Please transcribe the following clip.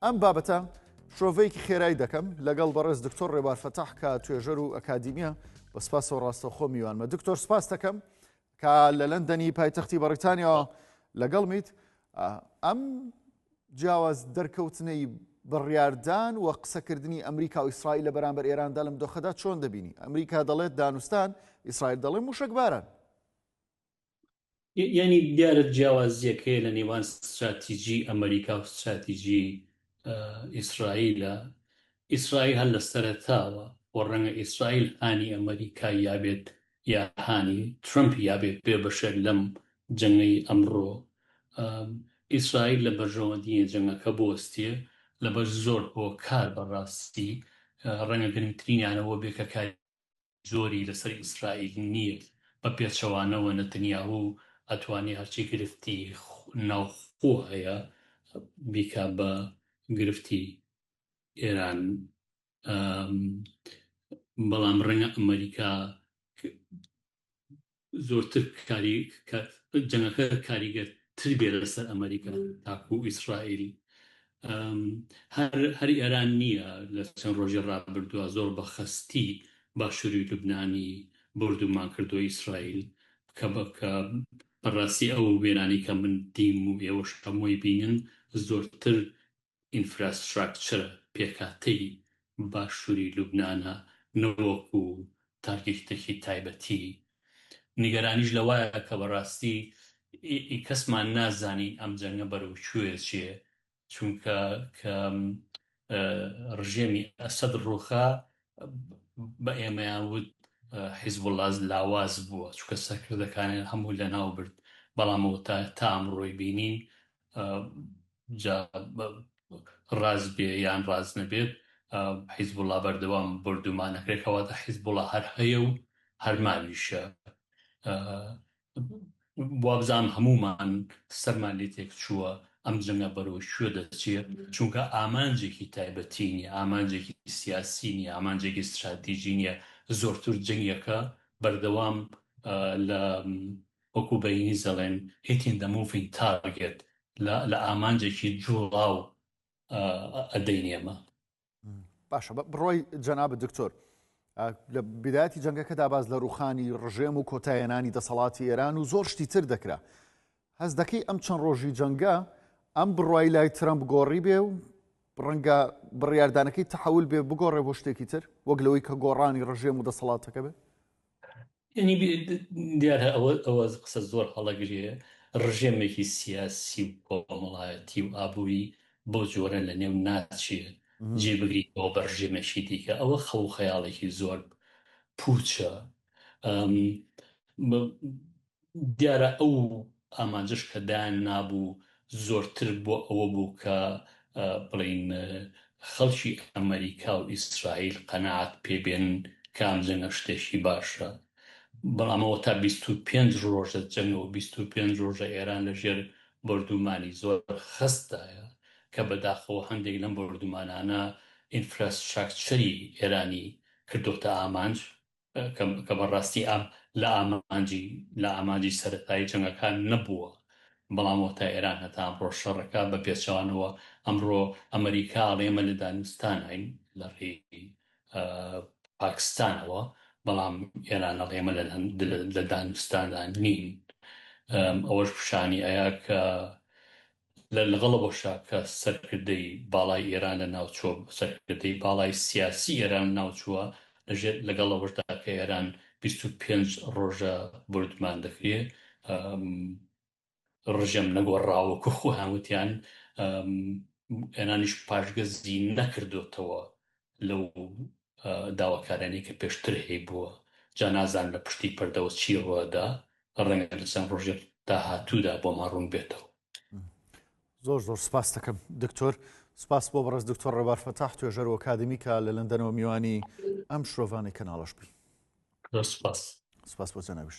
ئەم بابەتە شرۆڤەیەکی خێرای دەکەم لەگەڵ بەڕێز دکتۆر ڕێبار فەتاح کە توێژەر و ئەکادیمیە بە سپاسەوە ڕاستەوخۆ میوانمە دکتۆر سپاس دەکەم کە لە لەندەنی پایتەختی بەڕیتانیاەوە لەگەڵ میت ئەم جیاواز دەرکەوتنەی بڕیاردان و قسەکردنی ئەمریکا و ئیسرائیل لە بەرامبەر ئێراندا لەم دۆخەدا چۆن دەبینی ئەمریکا دەڵێت دانوستان ئیسرائیل دەڵێ موشک باران یانی دیارە جیاوازیەک هەیە لە نێوان ستراتیجی ئەمریکا و ستراتیجی ئیسرائیلە ئیسرائیل هەر لە سەرتاوە و ڕەنگە ئیسرائیل هانی ئەمریکا یابێت یا هانی ترمپ یابێت بێ بەشێک لەم جەنگەی ئەمڕۆ ئیسرائیل لە بەرژەوەندیە جەنگەکە بۆستێ لەبەر زۆر هۆکار بەڕاستی ڕەنگە گرنگترینیانەوە بێکەکاری زۆری لەسەر ئیسرائیل نیە بە پێچەوانەوە نەتنیاهو ئەتوانێ هەرچی گرفتی ناوخۆ هەیە بیکا بە گرفتی ئێران بەڵام ڕەنگە ئەمەریکا زۆرتر کاری جەنگەکە کاریگەر تر بێ لەسەر ئەمریکا تاکو و ئیسرائیل هەر ئێران نییە لە چەند ڕۆژی ڕابردووە زۆر بە خەستی باشووری لوبنانی بردومان کردو ئیسرائیل کە بەکە بەڕاستی ئەو وێرانی کە من دیم و ئێوەش هەمووی بینن زۆرتر ئینفراستراکچرە پێکهاتەی باشووری لوبنانە نەوەکو تارگیکتەکی تایبەتی، نیگەرانیش لەوایە کە بەڕاستی ئی کەسمان نازانین ئەم جەنگە بەرەو کوێ ئەچێ، چونکە کە ڕژێمی ئەسەد ڕووخا بە ئێمەیان وت حیزبوڵا لاواز بووە، چونکە سەرکردەکانیان هەموو لەناو برد، بەڵام ئەوەتا تا ئەمڕۆی بینین جا ڕاست بێ یان ڕاست نەبێت حیزبوڵا بەردەوام بۆردومان ئەکرێت کەواتە حیزبوڵا هەر هەیە و هەر ماویشە وابزانم هەمومان سەرمان لێ تێک چووە ئەم جەنگە بەرەو کوێ دەچێت چونکە ئامانجێکی تایبەتی نیە ئامانجێکی سیاسی نیە ئامانجێکی ستراتیژی نیە زۆرتر جەنگەکە بەردەوام لە وەکو بە ئینگلیز دەڵێن Hit in the moving target لە لە ئامانجێکی جوڵاو ئەدەینی ئەمە. باشە بڕوای جەنابت دکتۆر لە بدایەتی جەنگەکەدا باس لە ڕوخانی ڕژێم و کۆتایەنانی دەسەڵاتی ئێران و زۆر شتی تر دەکرا هەز دەکەی ئەم چەند ڕۆژی جەنگە ئەم بڕای لای ترەمپ گۆڕی بێ و ڕەنگە بڕیاردانەکەی تحول بێ بگۆڕێ بۆ شتێکی تر وەک لەوەی کە گۆڕانی ڕژێم و دەسەڵاتەکە بێ یەنی دیارە ئەوە ئەوە قسە زۆر هەڵە گرێ ڕژێمێکی سیاسی و کۆمەڵایەتی و ئابووری بەو جۆرە لە نێو ناچێ جێ بگریت بۆ بە ڕژێمێکی دیکە ئەوە خەو و خەیاڵێکی زۆر پووچە ئەم بە دیارە ئەو ئامانجش کە دایان نابوو زۆرتر بۆ ئەوە بوو کە بڵێین خەڵکی ئەمەریکا و ئیسرائیل قەناعەت پێ بێنن کە ئەم جەنگە شتێکی باشە. بەڵام ئەوە تا بیست و پێنج ڕۆژە جەنگە و بیست و پێنج ڕۆژە ئێران لە ژێر بۆردوومانی زۆر خەست دایە کە بە داخەوە هەندێک لەم بۆردوومانانە ئینفراسشاکچەری ئێرانی کردۆتە ئامانج. کە بە ڕاستی ئەم لە ئامانجی لە ئامانجی سەرەتایی جەنگەکان نەبووە، بەڵام وەتا ئێران هەتا ئەمڕۆ شەڕەکە بە پێچەوانەوە ئەمڕۆ ئەمەریکا ئەڵێ ئێمە لە دانوستاناین لە ڕێی پاکستانەوە، بەڵام ئێران ئەڵێ ئێمە لە دانوستاندا نین ئەوەش پیشانی ئەیا کە لە لەگەڵەوە شا کە سەرکردەی باڵای ئێران لە ناوچووە، سەرکردەی باڵای سیاسی ئێران ناوچووە، لە ژێر لەگەڵەوەشدا کە ئێران بیست و پێنج ڕۆژە بۆردومان دەکرێ، ڕژێم نەگۆڕا وەکوو خۆیان وتیان، ئێرانیش پاشگەزی نەکردۆتەوە لەو داواکارانەی کە پێشتر هەیبووە، جا نازانم لە پشتی پەردەوە چی رووەدا، رەنگە لە چەند رۆژی داهاتوودا بۆمان روون بێتەوە. زۆر زۆر سپاستەکەم دکتۆر. سپاس بۆ بەڕێز دکتۆر ڕێبار فەتاح توێژەر و ئەکادمی کە لە لەندەنەوە میوانی ئەم شرۆڤانەی کەناڵەش بی. زۆر سپاس. سپاس بۆ جەنابیشت.